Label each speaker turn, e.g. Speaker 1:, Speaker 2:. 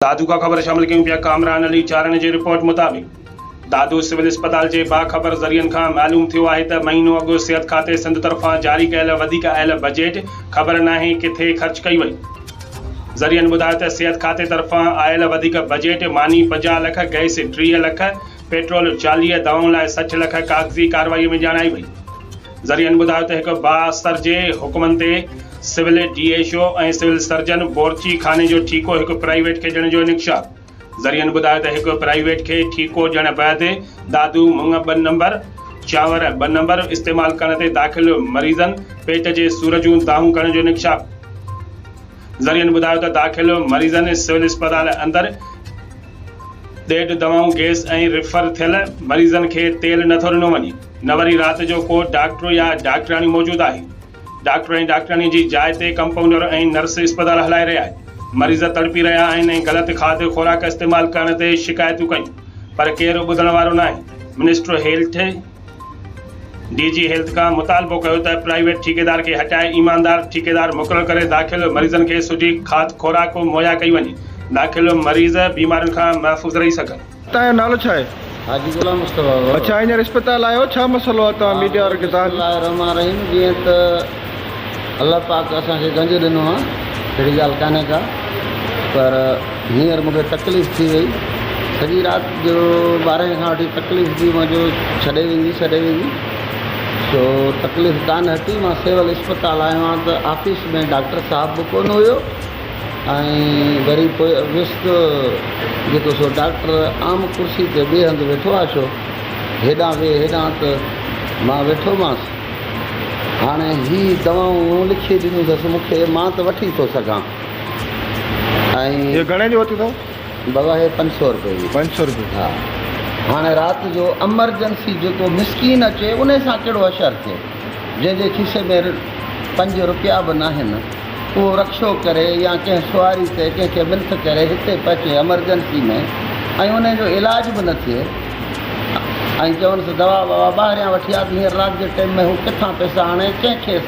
Speaker 1: دادوڪا خبر شامل ڪيون پيا ڪامران علي چارڻ جي رپورٽ مطابق دادو سول اسپتال جي باخبر ذريعن کان معلوم ٿيو آهي ته مهينو اڳ صحت کاتي سنڌ طرفان جاري ڪيل وڌيڪ اهل بجيٽ خبر ناهي ڪٿي خرچ ڪئي وئي ذريعن ٻڌايو ته صحت کاتي طرفان آيل وڌيڪ بجيٽ ماني پنجاهه لک گئس ٽيهه لک پيٽرول چاليهه دانهون لاء سٺ لک ڪاغذي ڪارروائي ۾ ڄاڻائي وئي. ذريعن ٻڌايو ته هڪ بااثر جي حڪمن تي civil D H O ۽ civil surgeon بورچي خاني جو ٺيڪو هڪ پرائيويٽ کي ڏيڻ جو انڪشاف ذريعن ٻڌايو ته هڪ پرائيويٽ کي ٺيڪو ڏيڻ بعد دادو مڱ ٻه نمبر، چانور ٻه نمبر، استعمال ڪرڻ تي داخل مريضن پيٽ جي سور جون دانهون ڪرڻ جو انڪشاف ذريعن ٻڌايو ته داخل مريضن سول اسپتال اندر. ڏيڍ دوائون گيس ۽ ريفر ٿيل مريضن کي تيل نه ٿو ڏنو وڃي نه وري رات جو ڪو ڊاڪٽر يا ڊاڪٽرياڻي موجود آهي ڊاڪٽر ۽ ڊاڪٽرياڻي جي جاء تي ڪمپائونڊر ۽ نرس اسپتال هلائي رهي آهي مريض تڙپي رهيا آهن ۽ غلط کاڌ خوراڪ استعمال ڪرڻ تي شڪايتون ڪيون پر ڪير ٻڌڻ وارو ناهي minister health D G health کان مطالبو ڪيو ته پرائيويٽ ٺيڪيدار کي هٽائي ايماندار ٺيڪيدار مقرر ڪري داخل مريضن کي سٺي کاڌ خوراڪ مهيا ڪئي وڃي داخل مريض بيمارين کان محفوظ رهي سگهن. توهان جو نالو ڇا آهي؟
Speaker 2: حاجي غلام
Speaker 3: مصطفيٰ. اڇا هينئر اسپتال
Speaker 2: آيا آهيو ڇا مسئلو آهي توهان ميڊيا وارن کي توهان جي. بسم الله الرحمٰن الرحيم
Speaker 3: جيئن ته. الله پاڪ اسان کي گنج ڏنو آ اھڙي ڳالھ ڪانھي ڪا پر ھينئر مونکي تڪليف ٿي وئي سڄي رات جو ٻارھين کان وٺي تڪليف ٿي منھنجو ڇڏي ويندي سڏي ويندي سو تڪليف ڪانھ ھتي مان سول اسپتال آيو آھيان ته آفيس ۾ ڊاڪٽر صاحب به ڪون ھيو ۽ وري پوء ويس ته جيڪو سو ڊاڪٽر عام ڪرسي تي ٻئي ھنڌ ويٺو آ ڇو ھيڏانھن ويھ ھيڏانھن ته مان ويٺو مانس هاڻي هي دوائون مون لکي ڏنيون اٿس مون کي، مان ته وٺي ٿو سگهان ۽. اهي گهڻي جي ورتيون اٿئو؟
Speaker 2: بابا هي پنج
Speaker 3: سؤ روپئي جي. پنج سؤ روپئي. ها. هاڻي رات جو امرجنسي جيڪو مسڪين اچي انهي سان ڪهڙو حشر ٿئي. جنهن جي کيسي ۾ پنج روپيا به ناهن اهو رڪشو ڪري يا ڪنهن سواري تي ڪنهن کي ملٿ ڪري هتي پهچي امرجنسي ۾ ۽ انهي جو علاج به نه ٿئي. ۽ چوڻس دوا ٻوا ٻاهريان وٺي آ ته هينئر رات جي ٽيم ۾ هو ڪٿان پيسا آڻي ڪنهن کيس